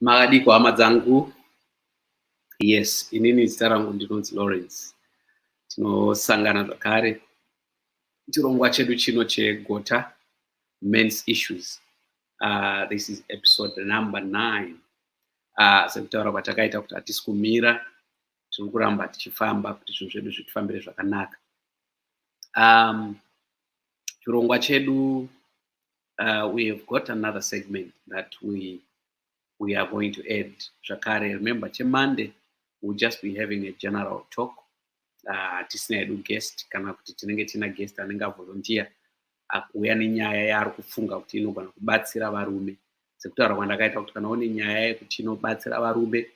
makadiko hama dzangu yes inini zita rangu ndinonzi lawrence tinosangana zvakare chirongwa chedu chino chegota mens issues uh, this is episode number nine uh, sekutaura kwatakaita kuti hatisi kumira tiri kuramba tichifamba kuti zvinhu zvedu zvitifambire zvakanaka um, chirongwa chedu uh, we have got another segment that we we are going to add zvakare remember chemonday we'll just be having a general talk uh, tisina hedu guest kana kuti tinenge tiina guest anenge avolontiya akuuya nenyaya yaari kufunga kuti inogona kubatsira varume sekutaura kwandakaita kuti kana une nyaya yekuti inobatsira varume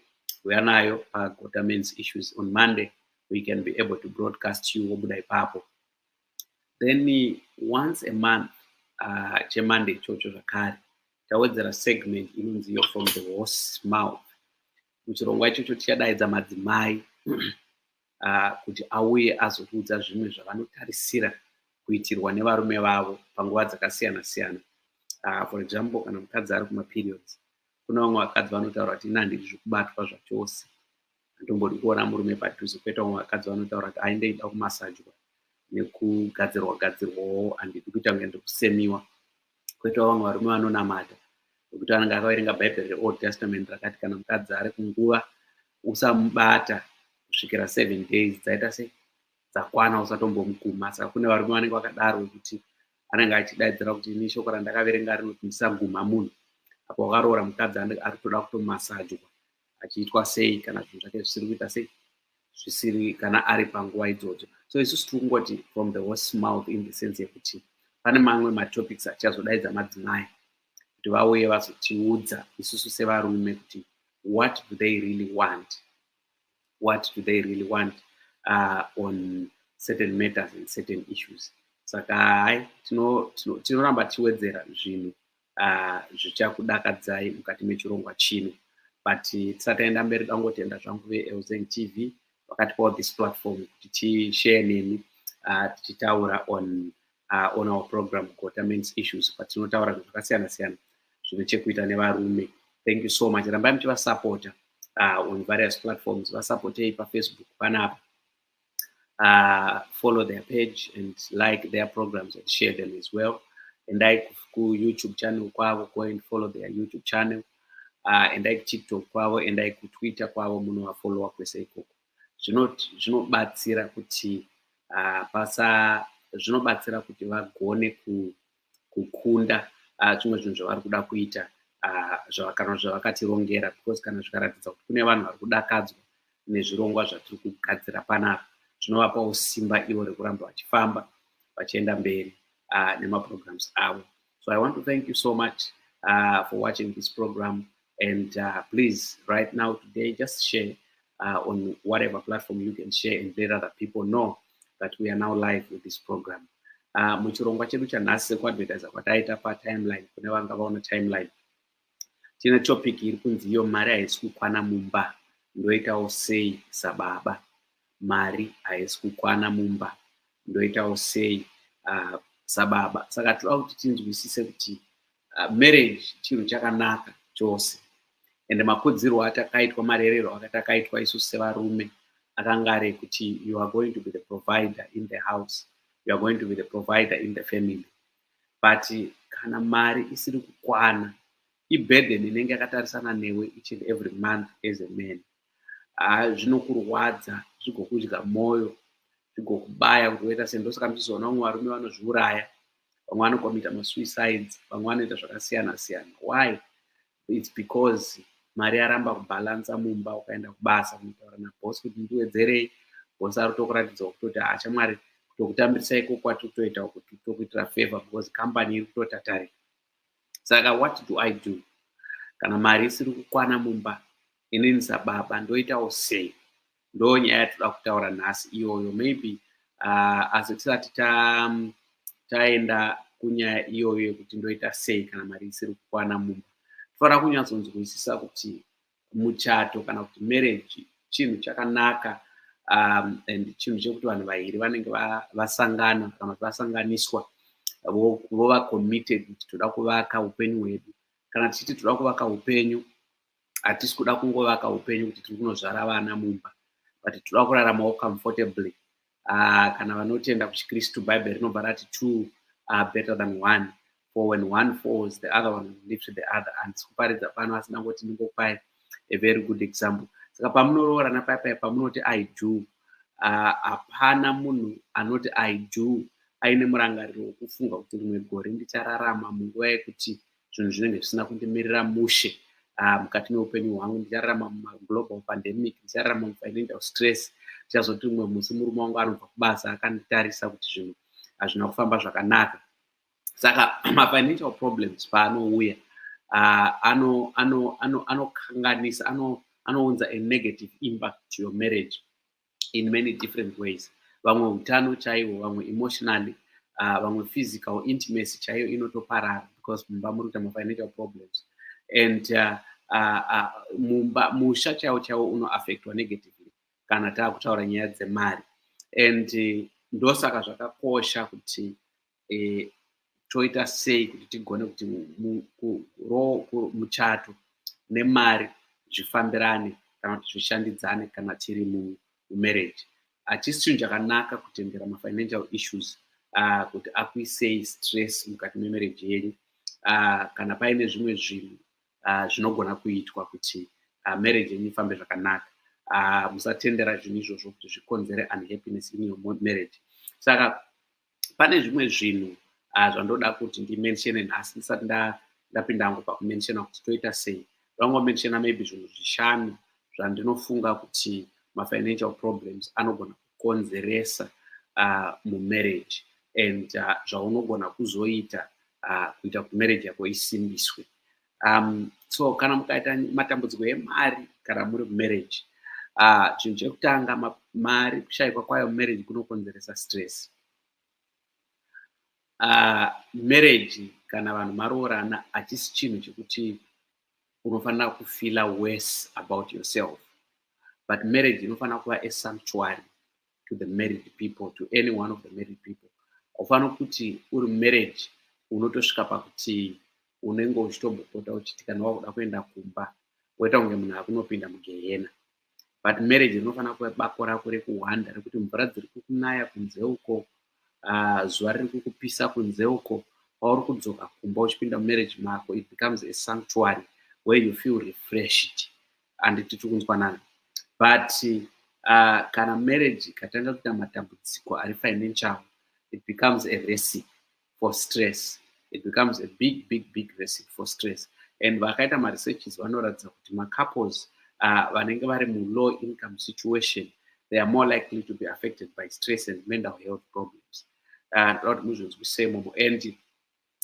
kuuya nayo pagota mens issues on monday we can be able to broadcast you wobuda ipapo then once a month uh, chemonday ichocho zvakare tawedzera segment inonzi yo from the horse mouth muchirongwa ichocho tichadaidza madzimai uh, kuti auye azotiudza zvimwe zvavanotarisira kuitirwa nevarume vavo panguva dzakasiyana siyana uh, for example kana mukadzi ari kumaperiods kune vamwe vakadzi vanotaura kuti ina handidi zvikubatwa zvachose handombodi kuona murume padhuze kweta umwe vakadzi vanotaura kuti aende ida kumasajwa nekugadzirwa gadzirwawo handidi kuita kunge ndiri kusemiwa kwetawo vamwe varume vanonamata nekuti vanenge akaverenga bhaibheri reold testament rakati kana mukadzi ari kunguva usamubata kusvikira seven days dzaita sei dzakwana usatombomukuma saka kune varume vanenge vakadaro vekuti anenge achidaidzira kuti ini shoko randakaverenga rinoti ndisaguma munhu apa wakaroora mukadzi ari kutoda kutomasajwa achiitwa sei kana zvinhu zvake zvisiri kuita sei zvisiri kana ari panguva idzodzo so isusu tiri kungoti from the horse mouth in the sense yekuti pane mamwe matopics achazodaidza madzimai kuti vauye vazotiudza isusu sevarume kuti what do they really want what do they really want uh, on certain matters and certain issues saka hai tinoramba tichiwedzera zvinhu uh, zvichakudakadzai mukati mechirongwa chino but tisataenda mberi dangotenda zvangu veelzeng tv vakatipawo this platform kuti tishare nemi uh, tichitaura on uh, on our program gota mens issues patinotaura zvinhu zvakasiyana siyana zvine chekuita nevarume thank you so much rambai muchivasapota uh, on various platforms vasapotei pafacebook panapa uh, follow their page and like their programs and share them as well endai kuyoutube channel kwavo go and follow their youtube channel uh, endai kutiktok kwavo endai kutwitter kwavo munovafollowa kwese ikoko zvinobatsira kuti uh, pasa zvinobatsira kuti vagone kukunda uh, zvimwe zvinhu zvavari kuda kuita uh, kana zvavakatirongera because kana zvikaratidza kuti kune vanhu vari kudakadzwa nezvirongwa zvatiri kugadzira panapa zvinovapawo simba ivo rekuramba vachifamba vachienda mberi uh, nemaprograms avo so i want to thank you so much uh, for watching this program And uh, please, right now, today, just share uh, on whatever platform you can share and let other people know that we are now live with this program. Uh, muchirongwa chedu chanhasi sekuadvertiser kwataita patimeline kune vanga vaona timeline tine topic iri kunzi iyo mari haisi kukwana mumba ndoitawo sei sababa mari haisi kukwana mumba ndoitawo sei uh, sababa saka tinoda kuti tinzwisise kuti uh, marriage chinhu chakanaka chose and makudzirwo atakaitwa marerero akatakaitwa isu sevarume akanga ari ekuti you are going to be the provider in the house you are going to be the provider in the family but kana mari isiri kukwana iburden inenge yakatarisana newe each and every month as a man ah, zvinokurwadza zvigokudya mwoyo zvigokubaya kuti woita sei ndosaka muchizoona vamwe varume vanozviuraya vamwe vanokomita masuicides vamwe vanoita zvakasiyana siyana why its because mari yaramba kubhalansa mumba ukaenda kubasa kunotaura nabhosi kuti ndiwedzerei bhosi ari kutokuratidza kutoti haachamwari ah, tokutambirisa iko kwati kutoita kuti tokuitira favor because company iri kutotatarira saka what do i do kana mari isiri kukwana mumba Inini sababa ndoitawo sei? Ndo nyaya yatoda kutaura nhasi iyoyo maybe uh, as tisati ta, um, taenda kunyaya iyoyo yekuti ndoita sei kana mari isiri kukwana mumba tofanira kunyatsonzwisisa kuti muchato kana kuti marriage chinhu chakanaka um, and chinhu chekuti vanhu vaviri vanenge vasangana kana kuti vasanganiswa vova committed kuti toda kuvaka upenyu hwedu kana tichiti toda kuvaka upenyu hatisi kuda kungovaka upenyu kuti tiri kunozvara vana mumba but tinoda kuraramawo comfortably uh, kana vanotenda kuchikristu bhaibheri rinobva rati two are better than one for when one falls the other one lives with the other and sikuparidza pano asina kuti ndingopai a very good example saka pamunoroorana paipai pamunoti i do ah, hapana uh, munhu anoti i do aine murangariro wekufunga kuti rimwe gore ndichararama munguva yekuti zvinhu zvinenge zvisina kundimirira mushe ah, mukati meupenyu hwangu ndichararama mumaglobal pandemic ndichararama mufinancial stress ndichazoti umwe musi murume wangu anobva kubasa akanditarisa kuti zvinhu hazvina kufamba zvakanaka saka mafinancial problems paanouya ah, anokanganisa anounza a negative impact to your marriage in many different ways vamwe utano chaiwo vamwe emotionally uh, vamwe physical intimacy chaiyo inotoparara because mumba muri kuita mafinancial problems and uh, uh, uh, mumba musha chaiwo chaiwo unoaffectwa negatively kana taakutaura nyaya dzemari and uh, ndosaka zvakakosha kuti e, toita sei kuti tigone kuti muchato nemari zvifambirane kana kuti zvishandidzane kana tiri mumarriage hachisi chinhu chakanaka kutendera mafinancial issues uh, kuti akuisei stress mukati memarriage yenyu uh, kana paine zvimwe zvinhu uh, zvinogona kuitwa kuti uh, marriage yenyu ifambe zvakanaka uh, musatendera zvinhu izvozvo kuti zvikonzere unhappiness in your marriage saka pane zvimwe zvinhu uh, zvandoda kuti ndimensione nhasi ndisati ndapinda hangu pakumensiona kuti toita sei ndangomensiona maybe zvinhu zvishanu zvandinofunga kuti mafinancial problems anogona kukonzeresa uh, mumarriage and uh, zvaunogona kuzoita uh, kuita kuti marriage yako isimbiswe um, so kana mukaita matambudziko emari kana muri mumarriage ah, chinhu uh, chekutanga mari kushaikwa kwayo mumarriage kunokonzeresa stress uh, marriage kana vanhu maroorana hachisi chinhu chekuti unofanira kufeela worse about yourself but marriage inofanira kuva esanctuary to the married people to any one of the married people haufaniri kuti uri marriage unotosvika pakuti unenge uchitombopota uchiti kana wakuda kuenda kumba woita kunge munhu akunopinda mugehena but marriage rinofanira kuva bako rako rekuhwanda rekuti mvura dziri kukunaya kunze uko ah, zuva riri kukupisa kunze uko pauri kudzoka kumba uchipinda mumarriage mako it becomes a sanctuary where you feel refreshed handiti tiri kunzwanana but uh, kana marriage ikatanga kuita matambudziko ari financial it becomes a recipe for stress it becomes a big big big recipe for stress and vakaita maresearches vanoratidza kuti macouples uh, vanenge vari mulow income situation they are more likely to be affected by stress and mental health problems uh, and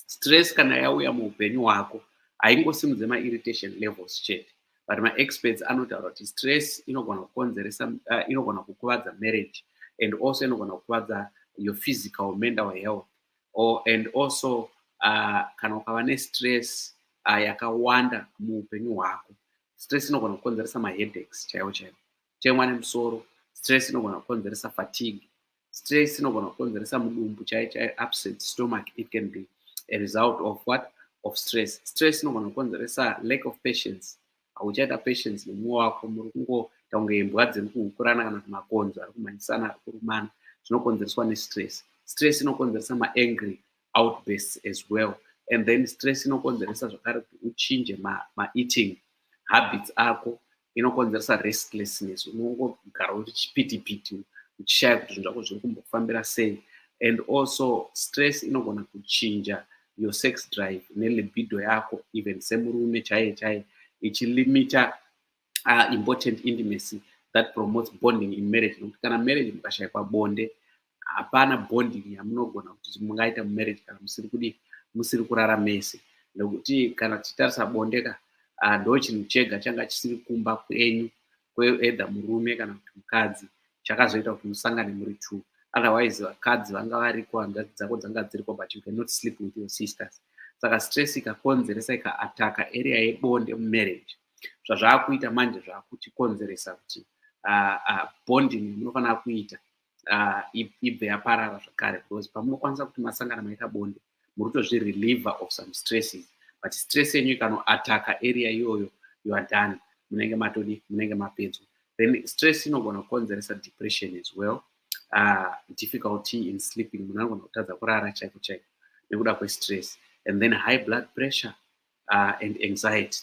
stress kana yauya muupenyu hwako haingosimudze mairritation levels chete but maexperts anotaura kuti stress inogona kukonzeresa uh, inogona kukuvadza marriage and also inogona kukuvadza your physical mental health or, and also uh, kana ukava nestress uh, yakawanda muupenyu hwako stress inogona kukonzeresa maheadaches chaiwo chaiwo kutemwa nemusoro stress inogona kukonzeresa fatigue stress inogona kukonzeresa mudumbu chai chai upset stomach it can be a result of what of stress stress inogona kukonzeresa lack of patience hauchaita patience nemumwe wako muri kungoita kunge imbwa dziri kuhukurana kana kumakonzo ari kumhanyisana ari kurumana zvinokonzereswa nestress stress inokonzeresa maangry outbursts as well and then stress inokonzeresa zvakare kuti uchinje maeating ma habits ako inokonzeresa restlessness unongogara uri chipitipiti uchishaya kuti zvinhu zvako zviri kumbofambira sei and also stress inogona kuchinja your sex drive nelibido yako even semurume chaiye chaiye ichilimita uh, important intimacy that promotes bonding in marriage nokuti kana marriage mukashaikwa bonde hapana bonding yamunogona kuti mungaita mumarriage kana musiri kudi musiri kurara mese nekuti kana tichitarisa bonde ka ah, ndo chinhu chega changa chisiri kumba kwenyu kweedha murume kana kuti mukadzi chakazoita kuti musangane muri two otherwise vakadzi vanga variko hanzvadzi dzako dzanga dziriko but you cannot sleep with your sisters saka stress ikakonzeresa ikaataka area yebonde mumarriage zvazvaakuita manje zvaakuchikonzeresa kuti ah, ah, bonding munofanira kuita uh, ibve yaparara zvakare because pamunokwanisa kuti masangana maita bonde muri kutozvireliever of some stresses but stress yenyu ikanoataka area iyoyo you are done munenge matodi munenge mapedzwa then stress inogona kukonzeresa depression as well uh, difficulty in sleeping munhu anogona kutadza kurara chaiko chaiko nekuda kwestress and then high blood pressure uh, and anxiety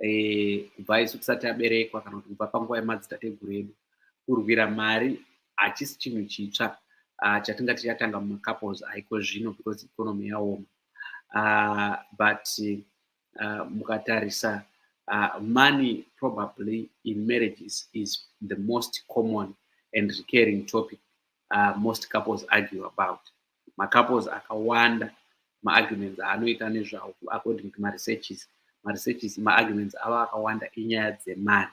eh, kubva isu tisati aberekwa kana kuti kubva panguva yemadzitateguru edu kurwira mari hachisi chinhu chitsva uh, chatingati chatanga mumacouples aiko zvino because economy yaoma uh, but uh, mukatarisa uh, money probably in marriages is the most common and recurring topic uh, most couples argue about macouples akawanda maarguments aanoita nezvawo according to maresearches maresearches maarguments avo akawanda inyaya dzemari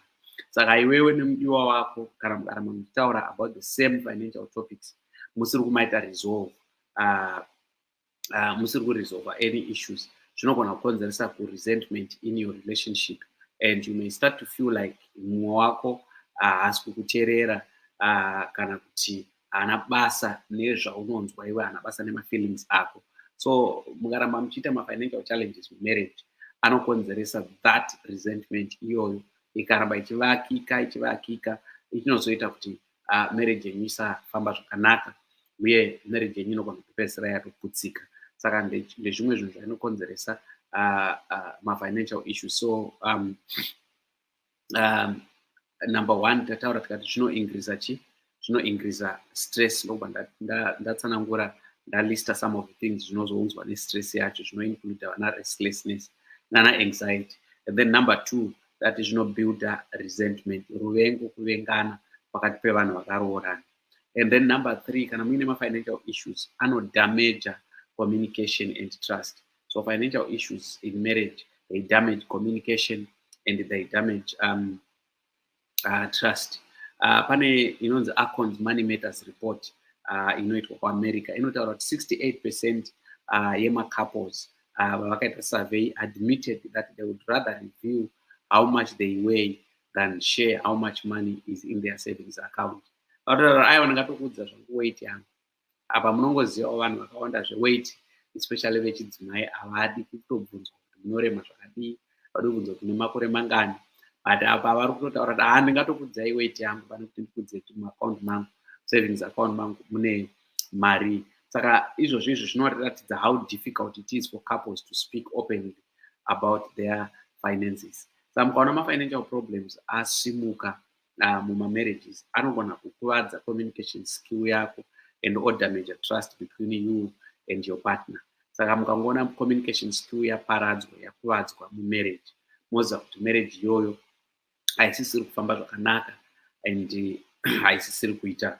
saka iwewe nemudiwa wako kana mukaramba muchitaura about the same financial topics musiri kumaita resolve uh, uh, musiri kuresolve any issues zvinogona kukonzeresa kuresentment in your relationship and you may start to feel like mumwe wako haasi uh, kukuterera uh, kana kuti haana basa nezvaunonzwa iwe haana basa nemafeelings ako so mukaramba muchiita mafinancial challenges mumarriage anokonzeresa that resentment iyoyo ikaramba ichivakika ichivakika ichinozoita kuti uh, marriage yenyu isafamba zvakanaka uye marriage yenyu inogona kupedzisira yatoputsika saka ndezvimwe zvinhu zvainokonzeresa uh, uh, mafinancial issues so um, um, number one tataura tikati zvinoingriza chi zvinoingriza stress ndokubva ndatsanangura ndalista some of the things zvinozounzwa nestress yacho zvinoincluda vana restlessness nana anxiety and then number two that zvinobuilda resentment ruvengo kuvengana pakati pevanhu vakaroorana and then number three kana muine mafinancial issues anodamaja communication and trust So financial issues in marriage, they damage communication and they damage um, uh, trust. Uh, pane inonzi Acorns Money Matters Report uh, inoitwa kuamerica inotaura kuti 68 percent uh, yemacouples uh, vavakaita survey admitted that they would rather review how much they weigh than share how much money is in their savings account vatotaura aiwa ndingatokuudza zvangu weight yangu apa munongozivawo vanhu vakawanda zveweit especially vechidzimai havadi kutobvunzwa kuti munorema zvakadii vadi kubvunzwa kuti nemakore mangani but apa vari kutotaura kuti haa ndingatokudzai weit yangu pane kuti ndikudze kuti muaccount mangu savings account mangu mune mari saka izvozvo izvo zvinoratidza how difficult it is for couples to speak openly about their finances sa mukaona mafinancial problems asimuka uh, mumamarriages anogona kukuvadza communication skill yako and odamage trust between you and your partner saka mukangoona communication skill yaparadzwa yakuvadzwa mumarriage moziva kuti marriage iyoyo haisisiri kufamba zvakanaka and haisisiri kuita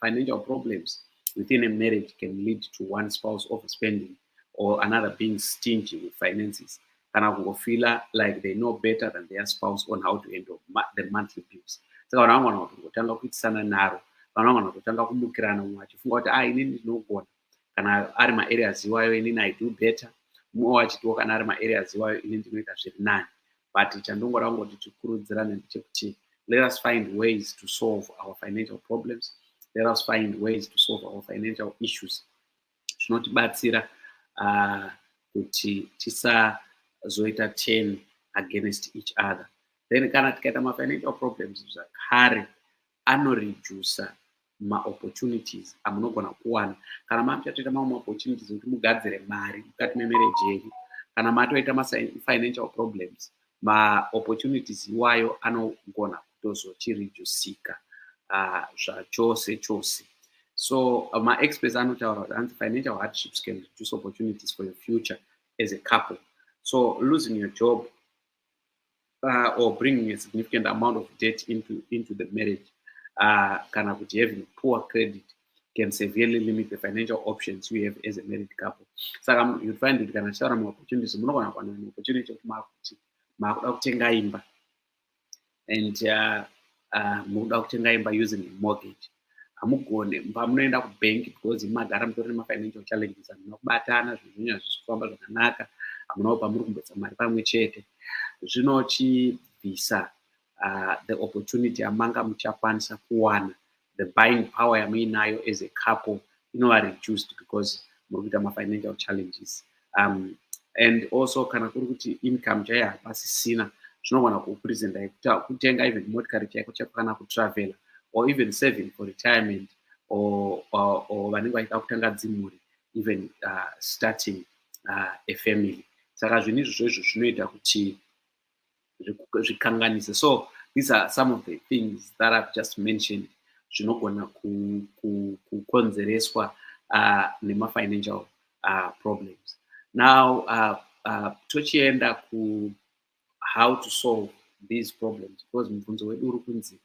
financial problems within a marriage can lead to one spouse overspending or another being stingy with finances kana kungofeela like they know better than their spouse on how to handle the monthly bills saka vanhu vangwana kuti ngotanga kuitisana naro vanhu vangwana kutotanga kumukirana mumwe achifunga kuti a ah, inini ndinogona kana ari maareas iwayo inini i do better mumwewo achitiwo kana ari maareas iwayo ini ndinoita zviri nani but chandongora kungoti tikurudzirane ndechekuti let us find ways to solve our financial problems let us find ways to solve our financial issues zvinotibatsira uh, kuti tisazoita ten against each other then kana tikaita mafinancial problems zvakare anoreducer maopportunities amunogona kuwana kana makuchatoita mamwe maopportunities ekuti mugadzire mari mukati memereji yenyu kana matoita mafinancial problems maopportunities iwayo anogona kutozochireducika uh, zvachose chose so uh, maexperts anotaura kuti anzi financial hardships can reduce opportunities for your future as a couple so losing your job uh, or bringing a significant amount of debt into, into the marriage uh, kana kuti having poor credit can severely limit the financial options you have as a married couple saka you find kuti kana tichitaura maopportunities munogona kuwana maopportunity kuti maakuti maakuda kutenga imba and uh, uh, mukuda kutenga imba using a mortgage hamugone pamunoenda kubank because magara mutori nemafinancial challenges hamuna kubatana zvinhu zvenyu hazvisi kufamba zvakanaka hamunawo pamuri kumbotsa mari pamwe chete zvinochibvisa uh, the opportunity yamanga muchakwanisa kuwana the buying power yamuinayo as a couple inova reduced because muri kuita mafinancial challenges um, and also kana kuri kuti income chaiyo hapasisina zvinogona kupresenta kutenga even motikari chaiko chaiko kana kutravela or even saving for retirement or vanenge vaida kutanga dzimhuri even uh, starting uh, a family saka zvinhu izvozvo izvo zvinoita kuti zvikanganise so these are some of the things that i've just mentioned zvinogona kukonzereswa ku, ku, uh, nemafinancial uh, problems now uh, uh, tochienda ku how to solve these problems because mubvunzo wedu uri kunzi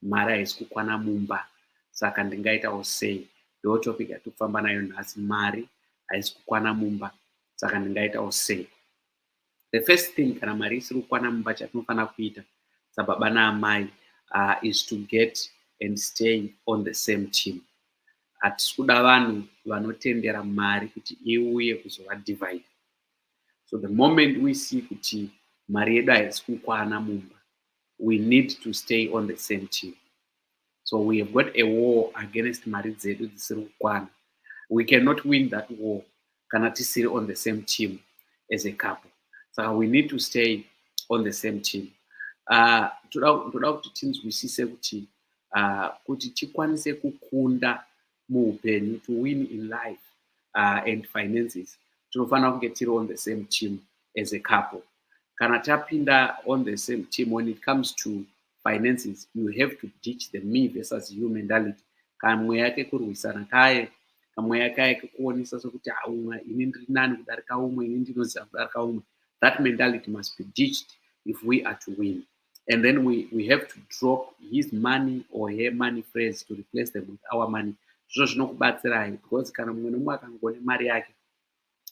mari haisi kukwana mumba saka ndingaitawo sei ndo topic yatiri kufamba nayo nhasi mari haisi kukwana mumba saka ndingaitawo sei the first thing kana mari isiri kukwana mumba chatinofanira kuita sababa naamai uh, is to get and stay on the same team hatisi kuda vanhu vanotendera mari kuti iuye kuzova divide so the moment we see kuti mari yedu haisi kukwana mumba we need to stay on the same team so we have got a war against mari dzedu dzisiri kukwana we cannot win that war kana tisiri on the same team as a couple saka we need to stay on the same team ah, toda kuti tinzwisise kuti ah, kuti tikwanise kukunda muupenyu to win in life ah, and finances tinofanira kunge tiri on the same team as a couple kana tapinda on the same team when it comes to finances you have to ditch the me versus you mentality kamweya kekurwisana kaye kamweya kaye kekuonesa sokuti haumwe ini ndiri nani kudarika umwe ini ndinoziva kudarika umwe that mentality must be ditched if we are to win and then we, we have to drop his money or her money phrase to replace them with our money zvizvo zvinokubatsirai because kana mumwe nomumwe akangone mari yake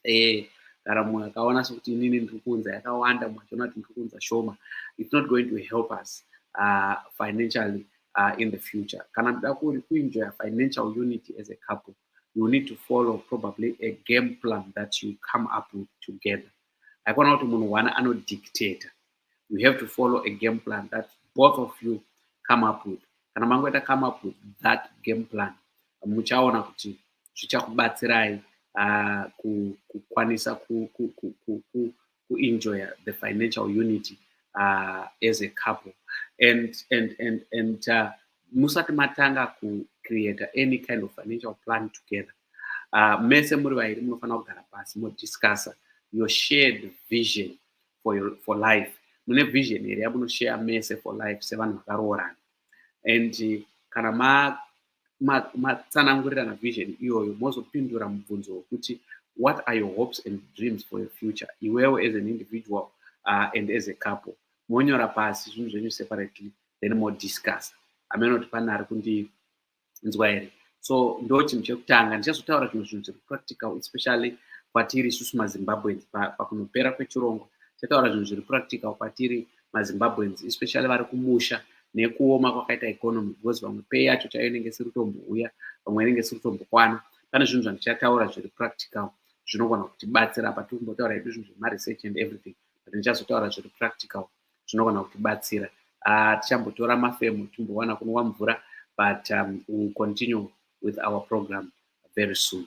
eh kana munhu akaona sokuti inini ndiri kuunza yakawanda munhu achiona kuti ndiri kuunza shoma it's not going to help us uh, financially uh, in the future kana muda kuri kuenjoya financial unity as a couple you need to follow probably a game plan that you come up with together haikona kuti munhu one anodictator you have to follow a game plan that both of you come up with kana mangoita come up with that game plan muchaona kuti zvichakubatsirai uh, kukwanisa ku, ku, ku, ku, ku, ku enjoy the financial unity uh, as a couple and and and and uh, musati matanga ku create any kind of financial plan together uh, mese muri vairi munofanira kugara pasi modiscussa your shared vision for, your, for life mune vision here yamunoshare mese for life sevanhu vakaroorana and uh, kana ma matsanangurirana ma vision iyoyo mozopindura mubvunzo wekuti what are your hopes and dreams for your future iwewo as an individual uh, and as a couple monyora pasi zvinhu zvenyu separately then modiscuss amene kuti pane ari kundinzwa here so ndo chinhu chekutanga ndichazotaura zvimwe zvinhu zviri practical especially kwatiri isusu mazimbabweans pakunopera pa kwechirongwa tichataura zvinhu zviri practical kwatiri mazimbabweans especially vari kumusha nekuoma kwakaita economy because vamwe pay yacho chaiyo inenge isiri kutombouya vamwe inenge isiri kutombokwana pane zvinhu zvandichataura zviri practical zvinogona kutibatsira apa tiri kumbotaura hedu zvinhu zvemaresearch and everything but ndichazotaura zviri practical zvinogona kutibatsira ah, tichambotora mafemo timbowana kunwa mvura but um, will continue with our program very soon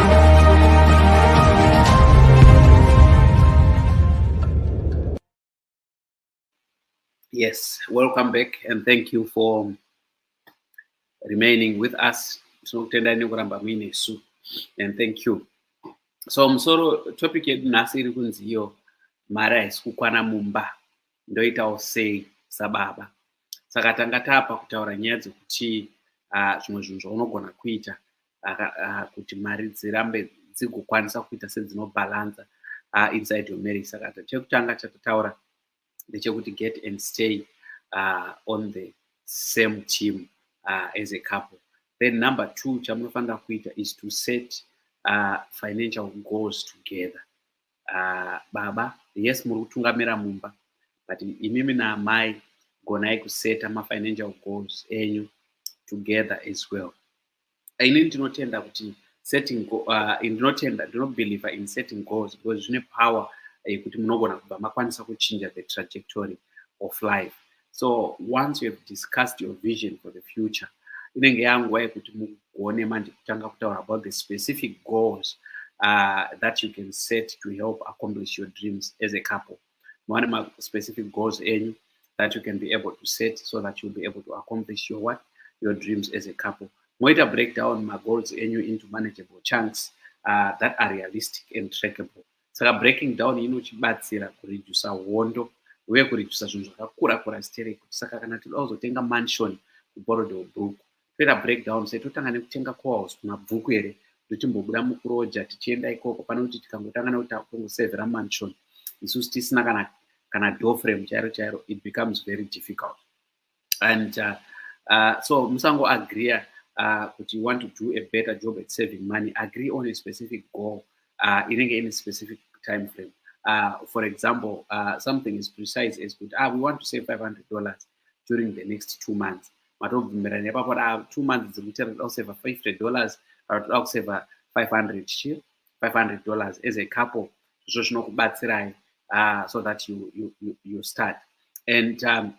Yes, welcome back and thank you for remaining with us. Tinokutendai nekuramba muine isu and thank you. So musoro topic yedu nhasi iri kunzi iyo mari haisi kukwana mumba ndoitawo sei sababa. Saka tanga tapa kutaura nyaya dzekuti ah, zvimwe zvinhu zvaunogona kuita uh, kuti mari dzirambe dzigokwanisa kuita sedzinobhalanza uh, inside your marriage saka chekutanga chatataura ndechekuti get and stay uh, on the same team uh, as a couple then number two chamunofanira kuita is to set uh, financial goals together uh, baba yes muri kutungamira mumba but imimi naamai gonai kuseta mafinancial goals enyu together as well ini ndinotenda kuti setting uh, ndinotenda ndinobeliever in setting goals because zvine power yekuti eh, munogona kubva makwanisa kuchinja the trajectory of life so once you have discussed your vision for the future inenge yanguva yekuti mugone manje kutanga kutaura about the specific goals uh, that you can set to help accomplish your dreams as a couple mwane ma specific goals enyu that you can be able to set so that you'll be able to accomplish your what your dreams as a couple moita breakdown ma goals enyu into manageable chunks uh, that are realistic and trackable saka breaking down inochibatsira kuredusa hondo uye kuredusa zvinhu zvakakura kura stereki saka kana toda kuzotenga mansion kuborodel brook toita breakdown sei totanga nekutenga coals kumabvuku here ndotimbobuda mukuroja tichienda ikoko pane kuti tikangotanga nekuti takutongosevhera mansion isusu tisina kana kana door frame chairo chairo it becomes very difficult and uh, uh, so musango agreea uh, kuti you want to do a better job at saving money agree on a specific goal uh, inenge ine specific time frame uh, for example uh, something is precise as kuti ah, we want to save 500 dollars during the next two months matobvumirana ipapo da two months dzekuti anoda kuseva five hundred dollars anotoda kuseva five hundred chi five hundred dollars as a couple zvo zvinokubatsirai uh, so that you, you, you, you start and um,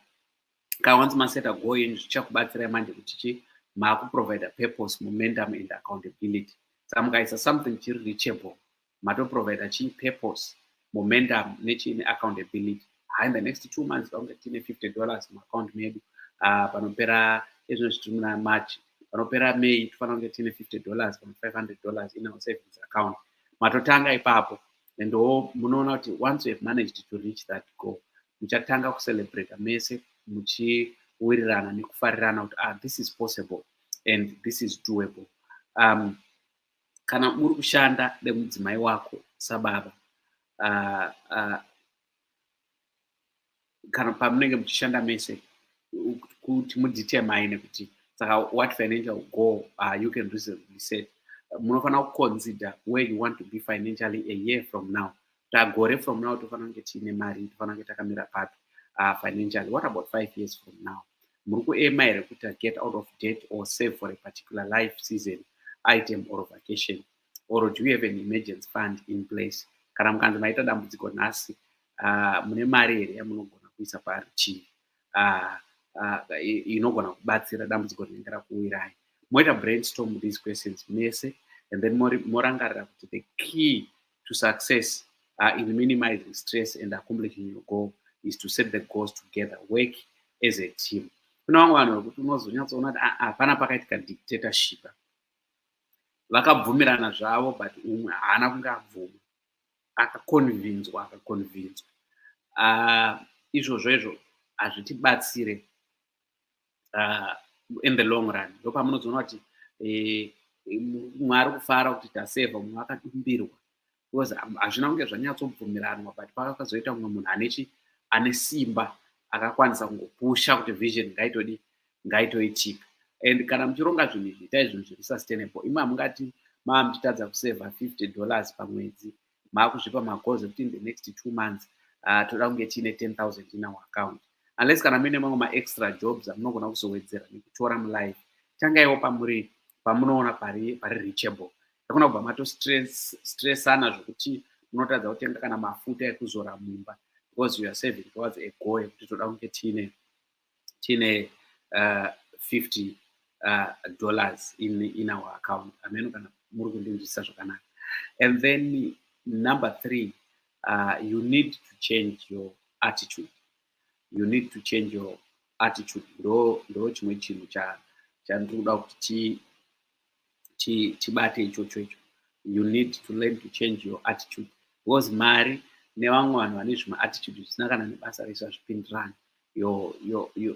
ka once maseta going zvichakubatsirai manje kuti chi maakuprovider purpose momentum and accountability samukaisa something chiri reachable mato provider chi purpose momentum nechii neaccountability haa in the next two months pakunge tine 50 dollars muaccount medu ah, panopera ezvino zvitiri muna march panopera may tofanira kunge tine 50 dollars kana 500 dollars in our savings account matotanga ipapo and o munoona kuti once you have managed to reach that goal muchatanga kucelebrata mese muchiwirirana nekufarirana kuti ah this is possible and this is doable um, kana muri kushanda nemudzimai wako sababa uh, uh, kana pamunenge muchishanda mese kuti mudetermine kuti saka what financial goal uh, you can reasonably set munofanira kuconsider where you want to be financially a year from now tagore from now tofanira kunge tiine mari tofanira kunge takamira papi uh, financially what about five years from now muri kuema here kuti get out of debt or save for a particular life season item or vacation or do you have an emergency fund in place kana mukanzi maita dambudziko nhasi uh, mune mari here yamunogona kuisa parutivi uh, uh, inogona kubatsira dambudziko rinenge rakuwirai moita brainstorm these questions mese and then morangarira kuti the key to success uh, in minimizing stress and accomplishing your goal is to set the goals together work as a team kuna vamwe vanhu vekuti unozonyatsoona kuti ah, ah, hapana pakaitika dictatorship vakabvumirana zvavo but umwe haana kunge abvuma akakonvinzwa akakonvinzwa uh, izvozvo izvo hazvitibatsire uh, in the long run ndopamunozoona kuti eh, mwari kufara kuti taseva munhu akadumbirwa because hazvina kunge zvanyatsobvumiranwa but pakakazoita mumwe munhu anechi ane simba akakwanisa kungopusha kuti vision ngaitodi ngaitoitika and kana muchironga zvinhu izvi itai zvinhu zviri sustainable imwe hamungati maa muchitadza kuseva 50 dollars pamwedzi maakuzvipa magoals ekuti in the next two months uh, toda kunge tiine 10000 in our account unless kana muine mamwe maextra jobs amunogona kuzowedzera nekutora mulife tangaiwo pamuri pamunoona pari pari reachable akuna kubva matostressana zvekuti munotadza kutenga kana mafuta ekuzora mumba because you are saving towards a goal yekuti toda kunge tiine tine uh, 50 uh, dollars in, in our account ameno kana muri kundinzwisisa zvakanaka and then number three uh, you need to change your attitude you need to change your attitude ndo ndo chimwe chinhu chandiri kuda kuti chibate ichocho icho you need to learn to change your attitude because mari nevamwe vanhu vane zvimaatitude zvisina kana nebasa resu hazvipindirani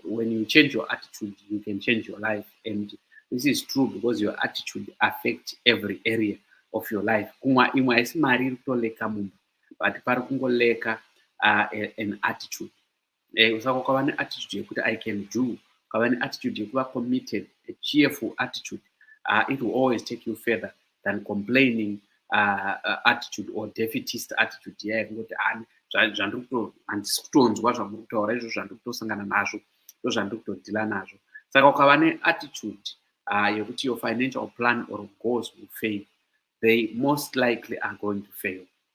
when you change your attitude you can change your life and this is true because your attitude affect every area of your life kumwa imwe haisi mari iri kutoleka mumba but pari kungoleka uh, an attitude eh, usako kwava neattitude yekuti i can do kwava neattitude yekuva committed a cheerful attitude uh, it will always take you further than complaining uh, uh, attitude or defitist attitude iya yekungoti ani zvandiri kuto handisi kutonzwa zvamuri kutaura izvo zvandiri kutosangana nazvo ndo zvandiri kutodhila nazvo saka ukava neattitude uh, yekuti your financial plan or goals will fail they most likely are going to fail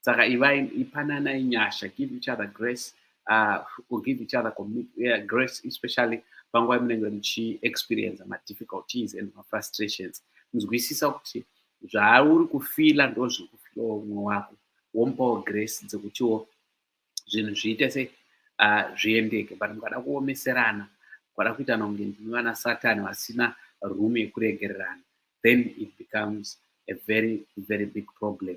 saka ivai ipananai nyasha give each other grace uh, or give each other yeah, grace especially panguva yamunenge muchiexperience madifficulties and mafrustrations nzwisisa kuti zvauri kufila ndo zviri kufilawo umwe wako womupawo grace dzekutiwo zvinhu zviite se uh, zviendeke but mukada kuomeserana mukada kuita nonge ndimi vana satani vasina room yekuregererana then it becomes a very very big problem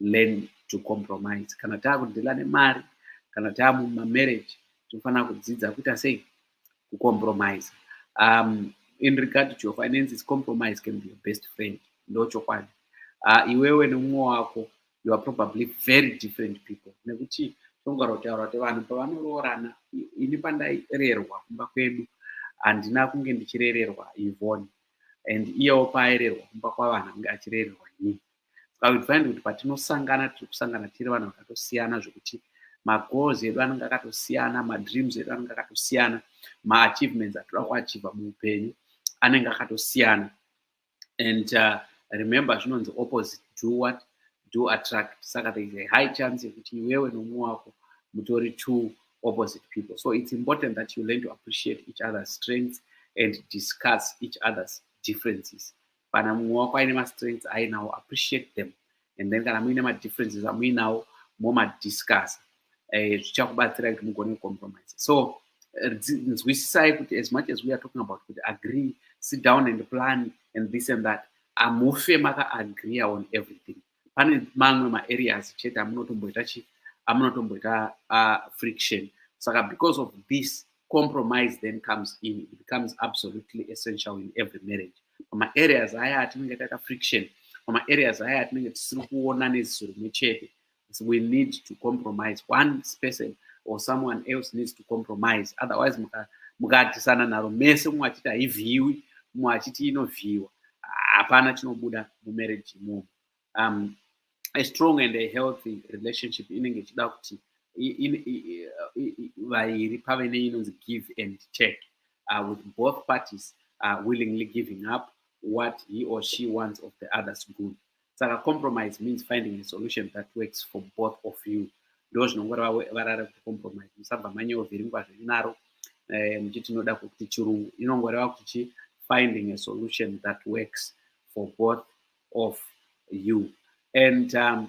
learn to compromise kana taakudhila nemari kana taamumamarriage tinofanira kudzidza kuita sei kucompromise um, in regard to your finances compromise can be your best friend ndochokwadi uh, iwewe nemumwe wako you are probably very different people nekuti tongara kutaura kuti vanhu pavanoroorana ini pandairerwa kumba kwedu handina kunge ndichirererwa ivoni and iyewo paairerwa kumba kwavana kunge achirererwa ini so i would find kuti patinosangana tiri kusangana tiri vanhu vakatosiyana zvekuti magoals edu anenge akatosiyana madreams edu anenge akatosiyana maachievements atoda kuachiva muupenyu anenge akatosiyana and uh, remember zvinonzi opposite do what do attract saka there is a high chance yekuti iwewe nomumwe wako mutori two opposite people so it's important that you learn to appreciate each other's strengths and discuss each other's differences kana mumwe wako aine mastrengths ainawo appreciate them and then kana muine madifferences amuinawo momadiscussa eh, zvichakubatsira kuti mugone kucompromise so eh, nzwisisai kuti as much as we are talking about kuti agree sit down and plan and this and that amufe makaagreea on everything pane mamwe maareas chete amunotomboita chi amunotomboita uh, friction saka because of this compromise then comes in it becomes absolutely essential in every marriage pamaareas aya atinenge taita friction pamaareas aya atinenge tisiri kuona neziso rimwe chete we need to compromise one person or someone else needs to compromise otherwise mukatisana naro mese mumwe achiti haivhiiwi mumwe achiti inovhiiwa hapana chinobuda mumarriage imomo um, a strong and a healthy relationship inenge ichida kuti vairi pave neinonzi give and take uh, with both parties uh, willingly giving up what he or she wants of the other's good saka compromise means finding a solution that works for both of you ndo zvinongoreva varara kuti compromise musabva manyeovhiringwa zvirinaro eh, muchiti tinoda kuti chirungu inongoreva kuti chi finding a solution that works for both of you and um,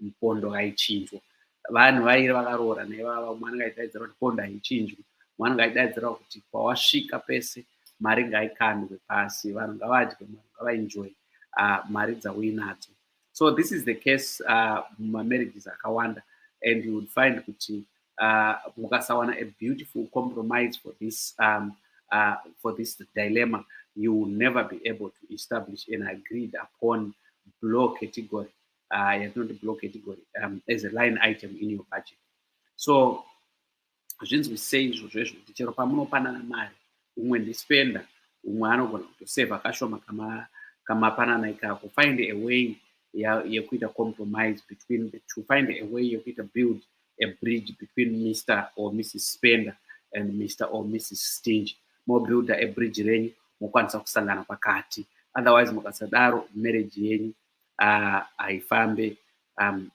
mpondo haichinjwa vanhu vairi vakaroora naivava mwana ngaidaidzira kuti pondo haichinjwi mwana ngaidaidzira kuti kwawasvika pese mari ngaikandwe pasi vanhu ngavadye mari ngavaenjoy uh, mari dzauinadzo so this is the case uh, mumamarriages akawanda and you would find kuti uh, mukasawana a beautiful compromise for this um, uh, for this dilemma you will never be able to establish an agreed upon blow category uh, yatinoti block category um, as a line item in your budget so zvinzwi sei izvozvo izvo kuti chero pamunopanana mari umwe ndispenda umwe anogona kutoseva kashoma kama kamapanana ikako find a way yekuita compromise between the two find a way yekuita build a bridge between mr or mrs spender and mr or mrs stinge mobuilda a bridge renyu mokwanisa kusangana pakati otherwise mukasadaro marriage yenyu haifambe um,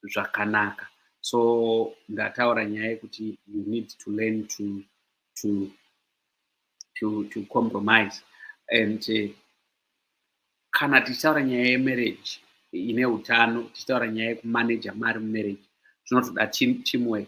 zvakanaka so ndataura nyaya yekuti you need to learn to, to, to, to compromise and uh, kana tichitaura nyaya yemarriage ine utano tichitaura nyaya yekumaneja mari mumarriage zvinotoda team, teamwork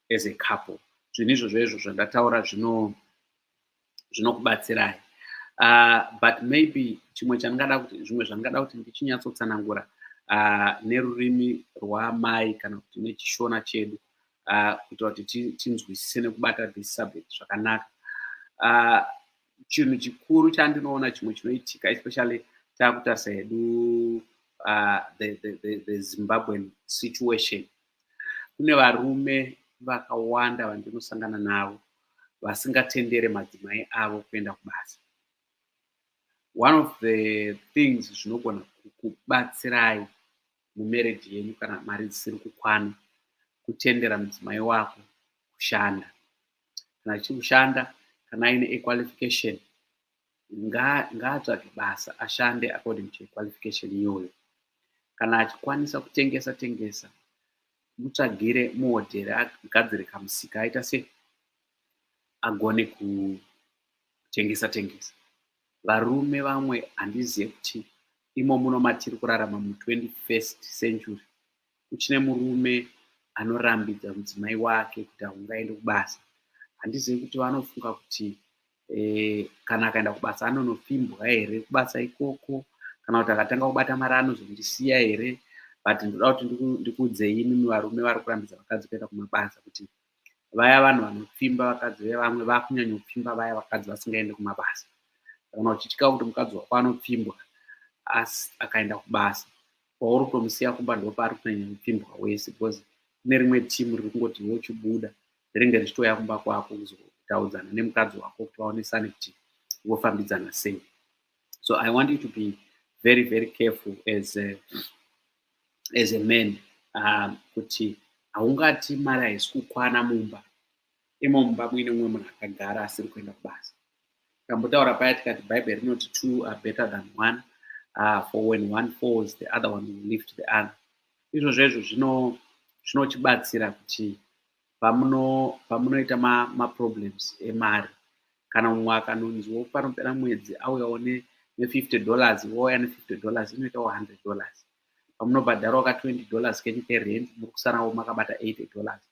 as a couple zvinhu izvo zvezvo zvandataura zvinokubatsirai zvino uh, but maybe chimwe chandingada kuti zvimwe zvandingada kuti ndichinyatsotsanangura uh, nerurimi rwamai kana kuti nechishona chedu uh, kuitira kuti tinzwisise nekubata this subject zvakanaka uh, chinhu chikuru chandinoona chimwe chinoitika especially takutarisa hedu uh, the, the, the, the zimbabwean situation Kune varume vakawanda vandinosangana navo vasingatendere madzimai avo kuenda kubasa. One of the things zvinogona kukubatsirai mumarriage yenyu kana mari dzisiri kukwana kutendera mudzimai wako kushanda kana achiri kushanda kana aine equalification ngaatsvage basa ashande according to qualification iyoyo kana achikwanisa kutengesa tengesa mutsvagire muhodheri agadzire kamusika aita se agone kutengesa tengesa varume vamwe handizive kuti imo muno matiri kurarama mu 21st century kuchine murume anorambidza mudzimai wake kuti aungaende kubasa handizivi kuti vanofunga kuti eh, kana akaenda kubasa anonopfimbwa here kubasa ikoko kana kuti akatanga kubata mari anozondisiya here but ndoda kuti ndikuudzei imimi varume vari kurambidza vakadzi kuenda kumabasa kuti vaya vanhu vanopfimba vakadzi vevamwe vakunyanyopfimba vaya vakadzi vasingaende kumabasa kana uchitya kuti mukadzi wako anopfimbwa asi akaenda kubasa kwauri kutomusiya kumba ndopaari kunyanya kupfimbwa wese because kune rimwe timu riri kungoti iwe uchibuda rinenge richitouya kumba kwako kuzotaudzana nemukadzi wako kuti vaonesane kuti vofambidzana sei so i want you to be very very careful as a, as a man um, kuti haungati mari haisi kukwana mumba imo mumba muine mumwe munhu akagara asiri kuenda kubasa tambotaura paya tikati bhaibheri rinoti two are better than one uh, for when one falls the other one will lift the other izvo zvezvo zvinochibatsira kuti pamunoita maproblems ma emari kana mumwe akanonziwo panopera mwedzi auyawo nefifty dollars wouya nefifty dollars inoitawo hundred dollars pamunobhadharawo ka 20 dollars kenyu kerent muri kusarawo makabata 80 dollars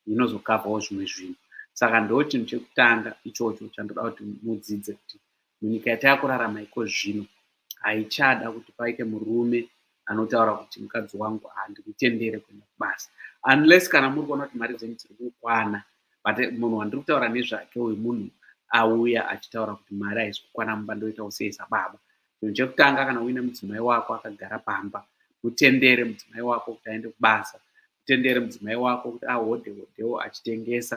inozokavhawo zvimwe zvinhu saka ndo chinhu chekutanga ichocho chandoda kuti mudzidze kuti munyika yatakurarama iko zvino haichada kuti paite murume anotaura kuti mukadzi wangu handikutendere kuenda kubasa unless kana muri kuona kuti mari dzenyu dziri kukwana but munhu wandiri kutaura nezvake uyu munhu auya achitaura kuti mari haisi kukwana mumba ndoita kuseisa baba Chinhu chekutanga kana uine mudzimai wako akagara pamba, mutendere mudzimai wako kuti aende kubasa, mutendere mudzimai wako kuti ahode hodewo achitengesa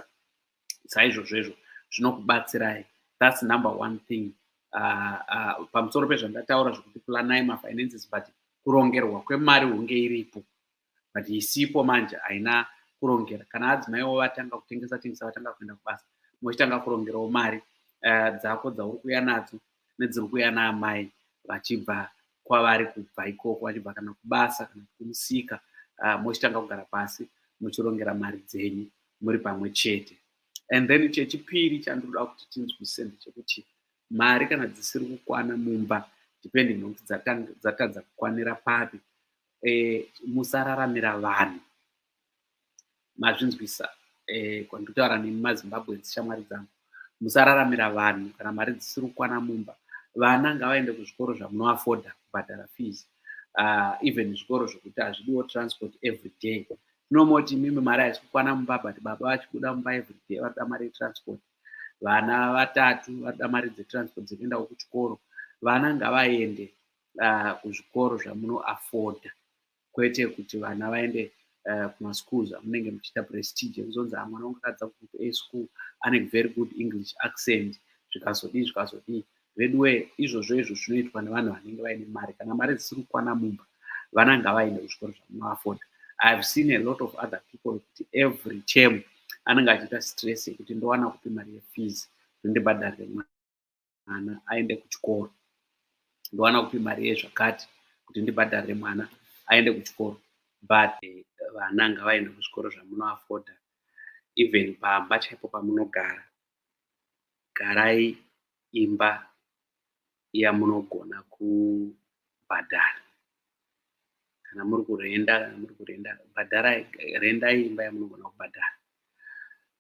saizvozvo izvo zvinokubatsirai. That's number one thing. Uh, uh, pamusoro pezvandataura zvekuti planai mafinances but kurongerwa kwemari hunge iripo but isipo manje haina kurongera kana adzimai wo vatanga kutengesa tengesa vatanga kuenda kubasa mochitanga kurongerawo mari uh, dzako dzauri kuya nadzo nedziri kuya naamai vachibva kwavari kubva ikoko vachibva kana kubasa kana kumusika uh, mochitanga kugara pasi muchirongera mari dzenyu muri pamwe chete and then chechipiri chandinoda kuti tinzwise ndechekuti mari kana dzisiri kukwana mumba depending nokuti dzatadza kukwanira papi eh, musararamira vanhu mazvinzwisa eh, kwanditaura nemi mazimbabwe dzishamwari dzangu musararamira vanhu kana mari dzisiri kukwana mumba vana ngavaende kuzvikoro zvamunoafoda kubhadhara fees uh, even zvikoro zvokuti hazvidiwo transport every day tinomoti mimi mari haisi kukwana mumba but baba vachibuda mumba every day vanoda mari yetransport vana vatatu vanoda mari dzetransport dzekuendawo kuchikoro vana ngavaende uh, kuzvikoro zvamunoafoda kwete kuti vana vaende uh, kumaschools amunenge muchiita prestige ekuzonzi ah, mwana wangu akadza kugroup a school ane very good english accent zvikazodii zvikazodii veduwe izvozvo izvo zvinoitwa nevanhu vanenge vaine mari kana mari dzisiri kukwana mumba vana ngavaende kuzvikoro zvamunoafoda i have seen a lot of other people kuti every term anenge achiita stress yekuti ndowana kupi mari yefees zvondibhadharire mwana mwana aende kuchikoro ndowana kupi mari yezvakati kuti ndibhadharire mwana aende kuchikoro but eh, vana ngavaende kuzvikoro zvamunoafoda even pamba chaipo pamunogara garai imba yamunogona kubhadhara kana muri kurenda kana muri kurenda bhadharai rendai imba yamunogona kubhadhara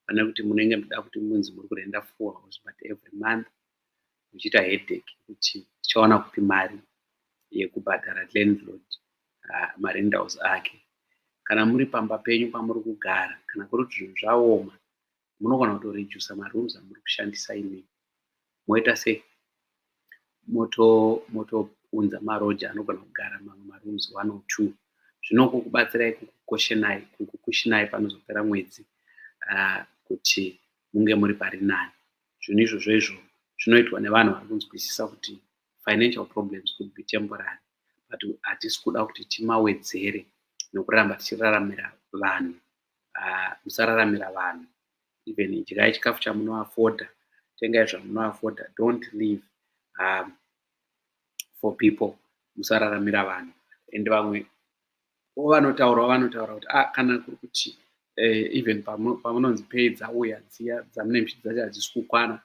pane kuti munenge muda kuti munzi muri kurenda four house but every month muchiita headache kuti tichawana kupi mari yekubhadhara landlord uh, marendaus ake kana muri pamba penyu pamuri kugara kana kuri kuti zvinhu zvaoma munogona kutorejusa marooms amuri kushandisa imi moita sei moto motounza maroja anogona kugara mamwe marooms one or two zvinokukubatsirai kukukoshenai kukukushinai panozopera mwedzi uh, kuti munge muri pari nani zvinhu izvozvo izvo zvinoitwa nevanhu vari kunzwisisa kuti financial problems could be temporary but hatisi kuda kuti timawedzere nokuramba tichiraramira vanhu ah, musararamira vanhu even idyai chikafu chamunoafoda tengai zvamunoafoda don't live um, for people musararamira vanhu and vamwe vanotaura vanotaura kuti ah, kana kuri kuti eh, even pamunonzi pay dzauya dziya dzamune mchiti dzacho hadzisi kukwana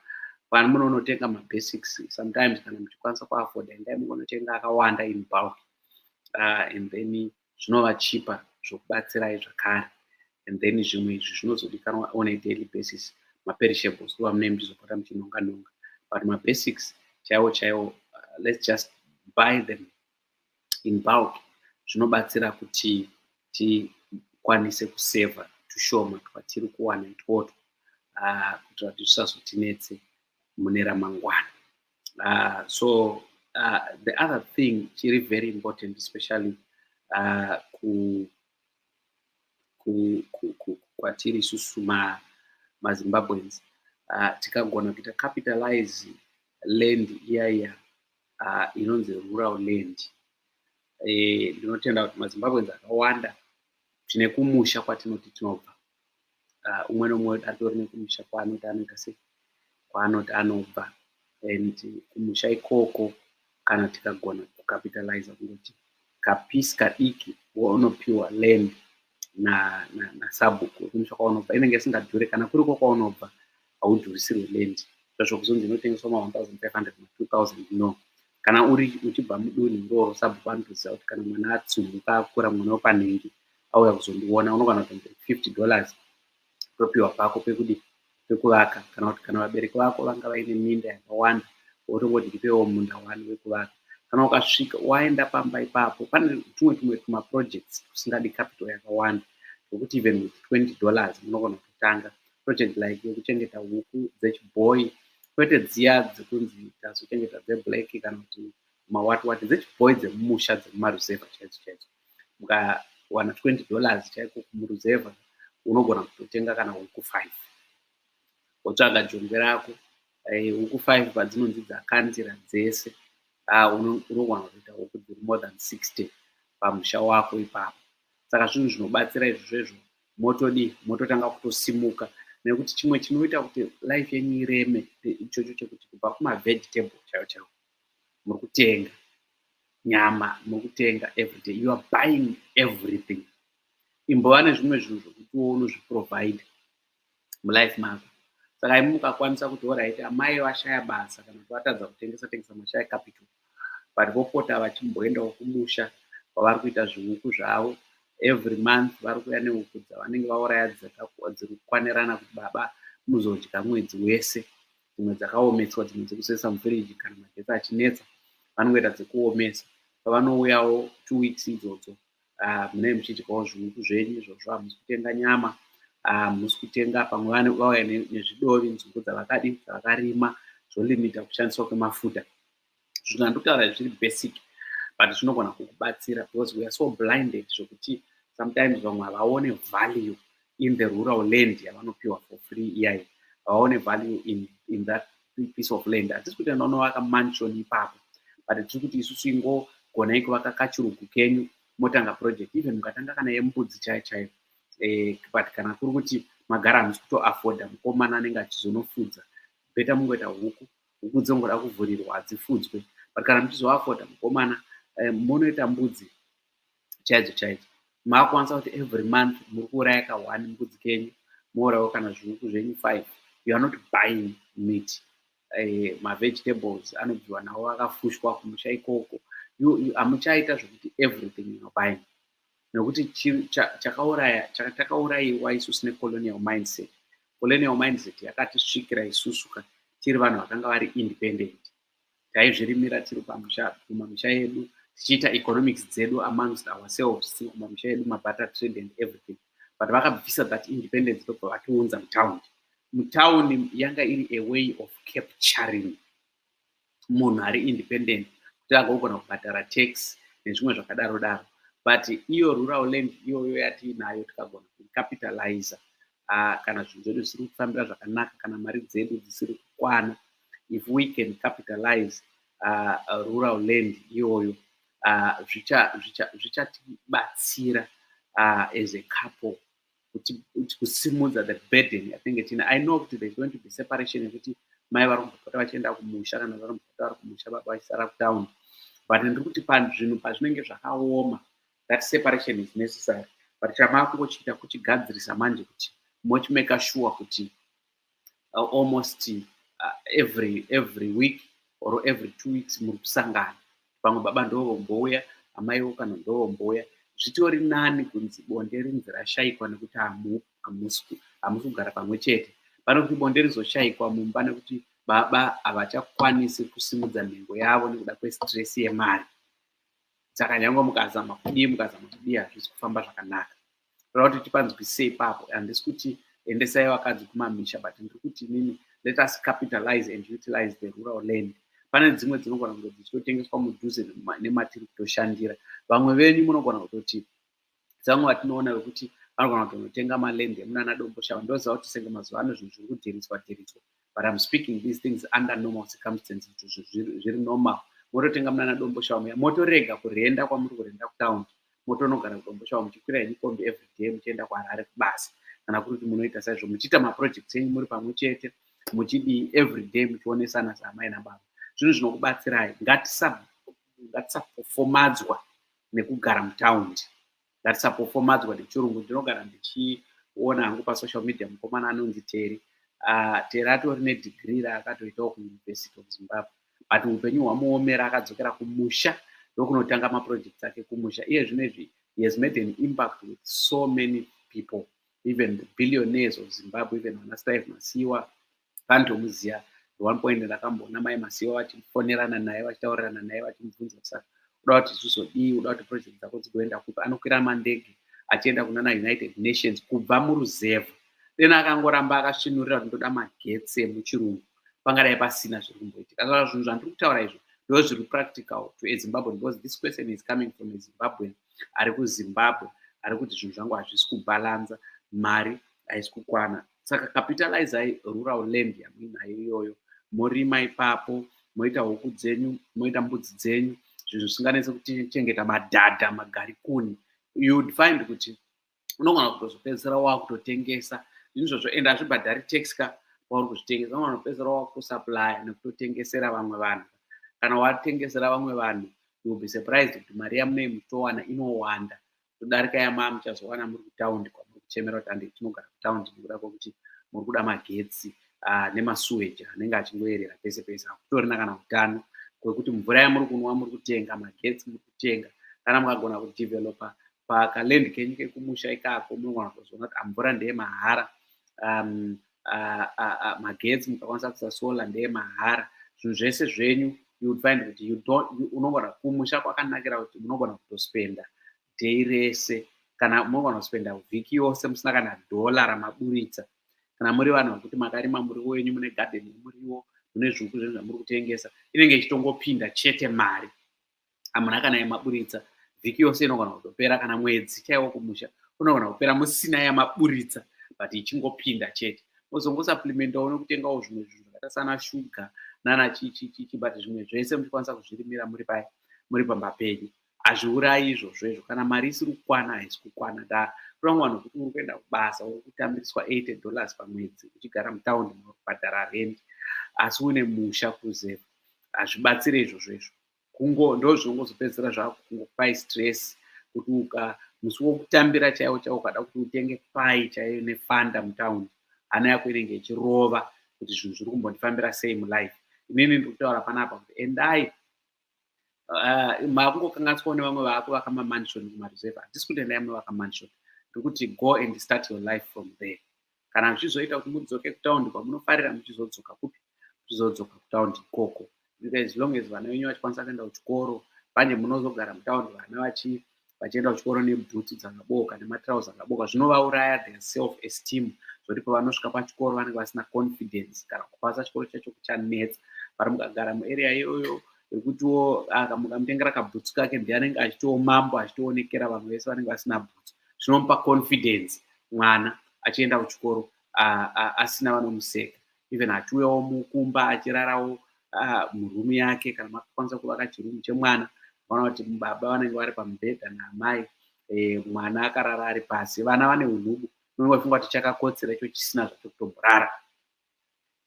pano munonotenga mabasics sometimes kana muchikwanisa kuafoda endai munonotenga akawanda in bulk uh, and then zvinovachipa zvokubatsirai zvakare and then zvimwe izvi zvinozodikanwa on a daily basis maperishables kuva mune muzopota muchinonga nonga but mabasics chaiwo chaiwo uh, let's just buy them in bulk zvinobatsira kuti tikwanise kuseva tushoma twatiri kuwana itwotwo uh, kuitira kuti zvisazotinetse mune ramangwana uh, so uh, the other thing chiri very important especially uh, ku, ku, ku, ku, kwatiri isusu ma, mazimbabweans uh, tikagona kuita capitalize land iya iya uh, inonzi rural land eh, ndinotenda kuti mazimbabweans akawanda tine kumusha kwatinoti tinobva uh, umwe nomwe atori nekumusha kwaanoti anoita se kwaanoti anobva and kumusha ikoko kana tikagona kucapitaliza kungoti kapisi kadiki waunopiwa land nasabhuku na, na kumusha kwaunobva inenge isingadhure kana kuri ko kwaunobva haudhurisirwe land zvazvo kuzonzi inotengeswa ma 1500 ma 2000 no kana uri uchibva mudunhu iroro sabhuku anotoziva kuti kana mwana atsumbuka akura mwana wepanhengi auya kuzondiona unokwana kuti 50 dollars topiwa pako pekudi pekuvaka kana kuti kana vabereki vako vanga vaine minda yakawanda wotongoti ndipewo munda wani wekuvaka kana ukasvika waenda pamba ipapo pane tumwe tumwe tumaprojects tusingadi capital yakawanda zvokuti even with 20 dollars munogona kutanga project like yekuchengeta huku dzechibhoyi kwete dziya dzekunzi tazochengeta dzeblack kana kuti mawatwati dzechibhoyi dzemumusha dzemumaruzevha chaidzo chaidzo mukawana 20 dollars chaiko kumuruzevha unogona kutotenga kana huku five wotsvaga jongwe rako eh, huku five padzinonzi dzakandira dzese ah, unogona kutoita huku dziri more than 60 pamusha wako ipapo saka zvinhu zvinobatsira izvozvo izvo motodii mototanga kutosimuka nekuti chimwe chinoita kuti life yenyu ireme ichocho chekuti kubva kumavegetables chaiwo chaiwo muri kutenga nyama muri kutenga everyday you are buying everything imbova nezvimwe zvinhu zvokutiwo unozviprovide mulife mako saka imi mukakwanisa kuti oraiti amai vashaya basa kana kuti vatadza kutengesa tengesa mashaya capital but vopota vachimboendawo kumusha kwavari kuita zvihuku zvavo every month vari kuuya nehuku dzavanenge vauraya dziri kukwanirana kuti baba muzodya mwedzi wese dzimwe dzakaomeswa dzimwe dzekuzoisa mufiriji kana magetsi achinetsa vanongoita dzekuomesa pavanouyawo two weeks idzodzo ah, munee muchidyawo zvihuku zvenyu izvozvo hamusi kutenga nyama ah, hamusi kutenga pamwe vane vauya nezvidovi nzungu dzavakadi dzavakarima zvolimita kushandiswa kwemafuta zvinhu handikutaura izvi zviri basic but zvinogona kukubatsira because weare so blinded zvokuti sometimes vamwe havaone value in the rural land yavanopiwa for free iyayi havaone value in, in that piece of land hatisi kuti anonovaka mansion ipapo but tiri kuti isusu ingogonai kuvaka kachirugu kenyu motanga project even mukatanga kana yembudzi chaiyo chaiyo eh, but kana kuri kuti magara hamusi kutoafforda mukomana anenge achizonofudza beta mungoita huku huku dzongoda kuvhurirwa hadzifudzwe but kana muchizoafforda mukomana eh, monoita mbudzi chaidzo chaidzo makwanisa kuti every month muri kuuraya ka one mbudzi kenyu mourawo kana zviuku zvenyu five you are not buying meat eh, mavegetables anobviwa nawo akafushwa kumusha ikoko hamuchaita zvekuti everything inobuying nekuti chakauraya takaurayiwa isu sine colonial mindset colonial mindset yakatisvikira isusu ka tiri vanhu vakanga vari independent taizvirimira tiri pamusha kumamisha yedu tichiita economics dzedu amongst ourselves tiri kumamisha yedu mabata trade and everything but vakabvisa that independence ndobva vatiunza mutown mutown yanga iri a way of capturing munhu ari independent kuti agogona kubhadhara tax nezvimwe zvakadaro daro but iyo rural land iyoyo yatiinayo tikagona kucapitalizer uh, kana zvinhu zvedu zvisiri kufambira zvakanaka kana mari dzedu dzisiri kukwana if we can capitalize uh, rural land iyoyo uh, zvichatibatsira uh, as a couple kuti kusimudza the burden yatinge tine i know kuti there's going to be separation yekuti mai vari kumbopota vachienda kumusha kana vari kumbopota vari kumusha baba vachisara kutown but ndiri kuti pazvinhu pazvinenge zvakaoma that separation is necessary but chamakungochiita kuchigadzirisa manje kuti mochimeka sure kuti uh, almost uh, every every week or every two weeks muri kusangana pamwe baba ndovombouya amaiwo kana ndovombouya zvitori nani kunzi bonde rinzi rashaikwa nekuti hamusi kugara pamwe chete pane kuti bonde rizoshaikwa mumba nekuti baba havachakwanisi kusimudza nhengo yavo nekuda kwestress yemari saka nyange mukazama kudii mukazama kudii hazvisi kufamba zvakanaka toda kuti tipanzwisise ipapo handisi kuti endesai vakadzi kumamisha but ndiri kuti inini let us capitalize and utilize the rural land pane dzimwe dzinogona kunge dzichitotengeswa mudhuze nematiri kutoshandira vamwe venyu munogona kutoti dzangu vatinoona vekuti vanogona kutonotenga maland emunana domboshava ndoziva kuti senge mazuva ano zvinhu zviri kudhiritswa dhiritswa but im speaking these things under normal circumstances kuti zviri normal mototenga munana domboshava muya motorega kurenda kwamuri kurenda kutown motonogara kudomboshava muchikwira henyu kombi every day muchienda kuharare kubasa kana kuri kuti munoita saizvo muchiita maprojects enyu muri pamwe chete muchidii every day muchionesana saamai nababa zvinhu zvinokubatsirai ngatisapofomadzwa nekugara mutaundi that's apofomadzwa nechirungu ndinogara ndichiona hangu pasocial media mukomana anonzi teri uh, teri atori nedigiri raakatoitawo kuuniversity of zimbabwe but upenyu hwamuomera akadzokera kumusha ndokunotanga maproject ake kumusha iye zvino izvi he has made an impact with so many people even the billionaires of zimbabwe even vanastaive masiwa Vandomuziva at one point ndakamboona mai Masiva vachifonerana naye vachitaurirana naye vachimubvunza kuti saka uda kuti zvizodii, uda kuti project dzako dzigoenda kupi? Anokwira mandege achienda kunana United Nations kubva muruzevha. Then akangoramba akasvinurira kuti ndoda magetsi emuchirungu pangadai pasina zviri kumboitika. Saka zvinhu zvandiri kutaura izvi ndo zviri practical to a Zimbabwean because this question is coming from a Zimbabwean ari kuZimbabwe ari kuti zvinhu zvangu hazvisi kubalanza mari haisi kukwana saka capitalizai rural land yamuinayo iyoyo morima ipapo moita huku dzenyu moita mbudzi dzenyu zvinhu zvisinganese kuchengeta madhadha magarikuni you'd find kuti unogona kutozopedzisira wakutotengesa izvozvo ende hazvibhadhari tax ka wauri kuzvitengesa unogona kupedzisira wakutosaplya nekutotengesera vamwe vanhu kana watengesera vamwe vanhu you'll be surprised kuti mari yamunei muchitowana inowanda todarika yamaa muchazowana muri kutaundi kwamuri kuchemera kuti andi tinogara kutaundi nekuda kwekuti muri kuda magetsi ah, nemasuweji anenge achingoyerera pese pese hakutorina kana utano kwekuti mvura yamuri kunwa muri kutenga magetsi muri kutenga kana mukagona kudevelopa pakaland kenyu kekumusha ikako munogona kuzoona kuti amvura ah, ndeye mahara um, uh, uh, uh, magetsi mukakwanisa kuisa solar ndeye mahara zvinhu zvese zvenyu you would find kuti you don't you, unogona kumusha kwakanakira kuti munogona kutospenda day rese kana munogona kuspenda vhiki yose musina kana dhola ramaburitsa kana muri vanhu vekuti makarima muriwo wenyu mune gadeni yemuriwo mune zviuku zvenyu zvamuri kutengesa inenge ichitongopinda chete mari amuna kana yemaburitsa vhiki yose inogona kutopera kana mwedzi chaiwo kumusha unogona kupera musina yamaburitsa but ichingopinda chete mozongosaplemendawo nekutengawo zvimwe zvinhu zvakaita sana shuga nana chichichichi but zvimwe zvese muchikwanisa kuzvirimira muri pai muri pamba penyu hazviurayi izvozvo izvo kana mari isiri kukwana haisi kukwana da kurangwa vanhu kuti uri kuenda kubasa uri kutambiriswa 80 dollars pamwedzi uchigara mutaundi unobhadhara rendi asi une musha kuzeva hazvibatsire izvozvo izvo kungo ndozvongozopedzisira zvakungopai stress kuti uka musi wokutambira chaiwo chaiwo ukada kuti utenge pai chaiyo nefanda mutown hana yako inenge ichirova kuti zvinhu zviri kumbondifambira sei mulife inini ndiri kutaura panapa kuti endai uh, makungokanganiswawo nevamwe vako vakamamansion kumareserve handisi kuti endai mune vakamansion ndiri kuti go and start your life from there kana zvichizoita kuti mudzoke kutaundi kwamunofarira muchizodzoka kupi muchizodzoka kutaundi ikoko as long as vana venyu vachikwanisa kuenda kuchikoro manje munozogara mutaundi vana vachi vachienda kuchikoro nebhuti dzakabooka nematrouse akabooka zvinovauraya the self esteem zvokuti pavanosvika pachikoro vanenge vasina confidence kana kupasa chikoro chacho kuchanetsa vari mukagara muarea iyoyo yekutiwo akamukamutengera kabhutsu kake ndiye anenge achitiwo mambo achitoonekera vamwe vese vanenge vasina bhutsu zvinomupa confidence mwana achienda kuchikoro asina vanomuseka even achiuyawo mukumba achirarawo murumu yake kana makakwanisa kuvaka chirumu chemwana vana kuti baba vanenge vari pamubhedha naamai e, mwana akarara ari pasi vana vane unhubu unenge uchifunga kuti chakakotsera icho chisina zvacho kutomborara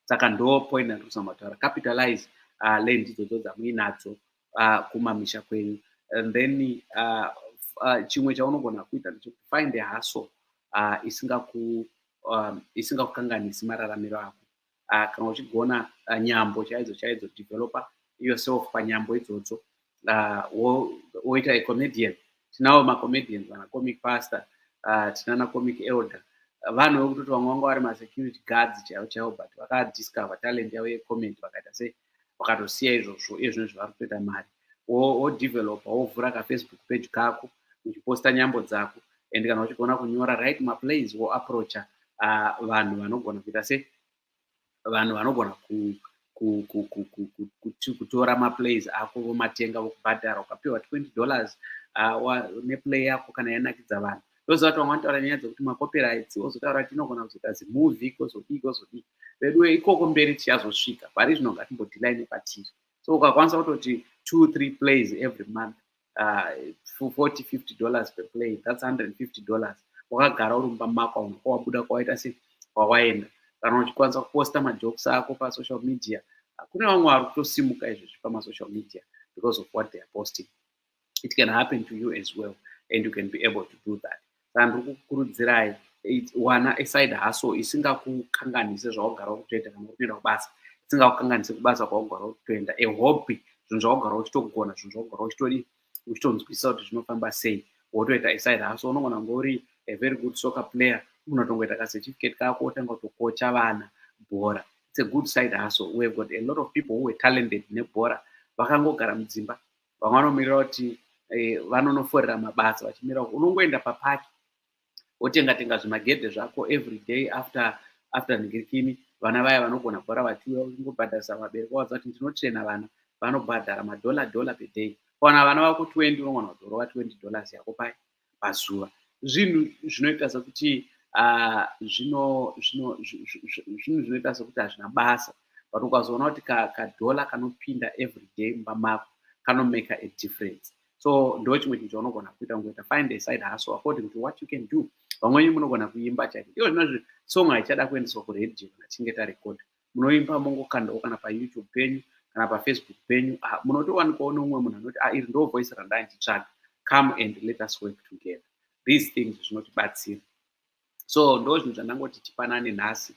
saka ndo point yandikusa mataura capitalize uh, land idzodzo dzamuinadzo uh, kumamisha kwenyu and then uh, uh, chimwe chaunogona kuita ndechekufind a hustle uh, isingaku um, isingakukanganisi mararamiro ako uh, kana uchigona uh, nyambo chaidzo chaidzo developer yourself panyambo idzodzo uh, woita wo comedian tinawo macomedian vana comic pastor uh, tinana comic elder vanhu vekutoti vamwe vanga vari masecurity guards chaivo chaivo but vakadiscover talent yavo yecomment vakaita sei vakatosiya izvozvo iye zvino zvavari kutoita mari wodevelopa wovhura kafacebook page kako uchiposta nyambo dzako and kana uchigona kunyora right maplays woapproacha uh, vanhu vanogona kuita sei vanhu vanogona kutora maplays ako vomatenga vokubhadhara ukapiwa 20 dollars neplay yako kana yanakidza vanhu ndoziva kuti vamwe vanotaura nyaya dzekuti macopyrights wozotaura kuti inogona kuzoita zimovie kozodii kozodii veduwe ikoko mberi tichazosvika pari zvino ngatimbodilai nepatiri so ukakwanisa kutoti two three plays every month uh, 40 50 dollars per play that's 150 dollars wakagara uri mumba mako auna kwawabuda kwawaita se kwawaenda kana uchikwanisa kuposta majokes ako pasocial media kune vamwe vari kutosimuka izvezvi pamasocial media because of what they are posting it can happen to you as well and you can be able to do that Sandri kukurudzirai wana aside haso isingakukanganise zvaugara ukutoita kana ukutoenda kubasa isingakukanganise kubasa kwaugara ukutoenda ehobby zvinhu zvaugara uchitogona zvinhu zvaugara uchitodi uchitonzwisisa kuti zvinofamba sei wotoita aside haso unogona kunge uri a very good soccer player unotongoita kacertificate kako wotanga kutokocha vana bhora it's a good side haso we have got a lot of people who were talented nebhora vakangogara mudzimba vamwe vanomirira kuti eh, vanonoforera mabasa vachimirira unongoenda papaki wotenga tenga zvimagedhe zvako every day after after nhigirikini vana vaya vanogona kubhora vatiuya ungobhadharisa vabereki vawaza kuti ndinotrena vana vanobhadhara madhola dhola peday kana vana vako 20 unogona kudhorova 20 dollars yako pai pazuva zvinhu zvinoita sekuti ah, zvinhu zvinoita sekuti hazvina basa but ukazoona kuti kadhola kanopinda every day mumba mako kanomaka a difference so ndo chimwe chinhu chaunogona kuita ngoita find a side haso according to what you can do vamwenyu munogona kuimba chaiko iyo zvinozvi song haichada kuendeswa kuradio kana tinge tarekoda munoimba mongokandawo kana payoutube penyu kana pafacebook penyu ah, munotowanikwawo neumwe munhu anoti ah, iri ndo voice randanditsvaga come and let us work together these things zvinotibatsira so ndo zvinhu zvandangoti tipanane nhasi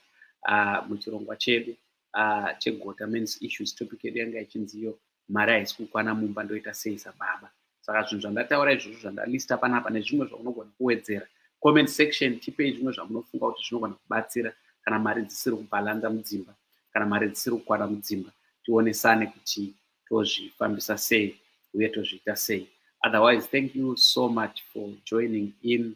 uh, muchirongwa chedu uh, chegota mens issues topic yedu yanga ichinziyo mari haisi kukwana mumba ndoita sei sababa saka zvinhu zvandataura izvozvo zvandalista panapa nezvimwe zvaunogona kuwedzera comment section tipei zvimwe zvamunofunga kuti zvinogona kubatsira kana mari dzisiri kubhalanza mudzimba kana mari dzisiri kukwana mudzimba tionesane kuti tozvifambisa sei uye tozviita sei otherwise thank you so much for joining in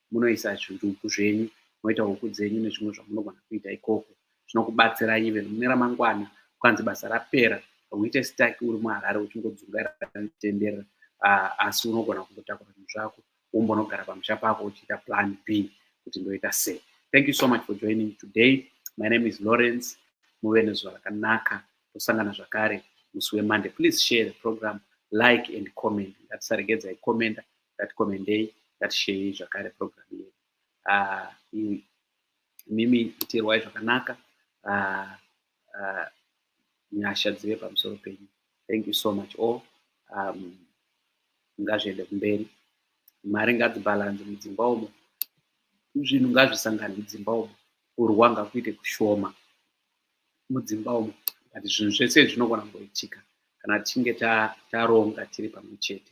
munoisa zvirugu zvenyu moita huku dzenyu nezvimwe zvamunogona kuita ikoko zvinokubatsirai even mune ramangwana ukanzi basa rapera uite stak uri muharare uchingodzungairatenderera ah, asi unogona kungotakura zvinhu zvako wombonogara pamusha pako uchiita plan b kuti ndoita sei thank you so much for joining today my name is lawrence muve nezuva rakanaka tosangana zvakare musi wemande please share the program like and comment ngatisaregedza ikomenda ngatikomendei ngatisheyi zvakare program yedu ah, imimi itirwai zvakanaka ah, ah, nyasha dzive pamusoro penyu thank you so much all um, ngazviende kumberi mari ngadzibhalanzi mudzimba umo zvinhu ngazvisangane mudzimba umo kurwa ngakuite kushoma mudzimba umo but zvinhu zvese zvinogona kungoitika kana tichinge taronga tiri pamwe chete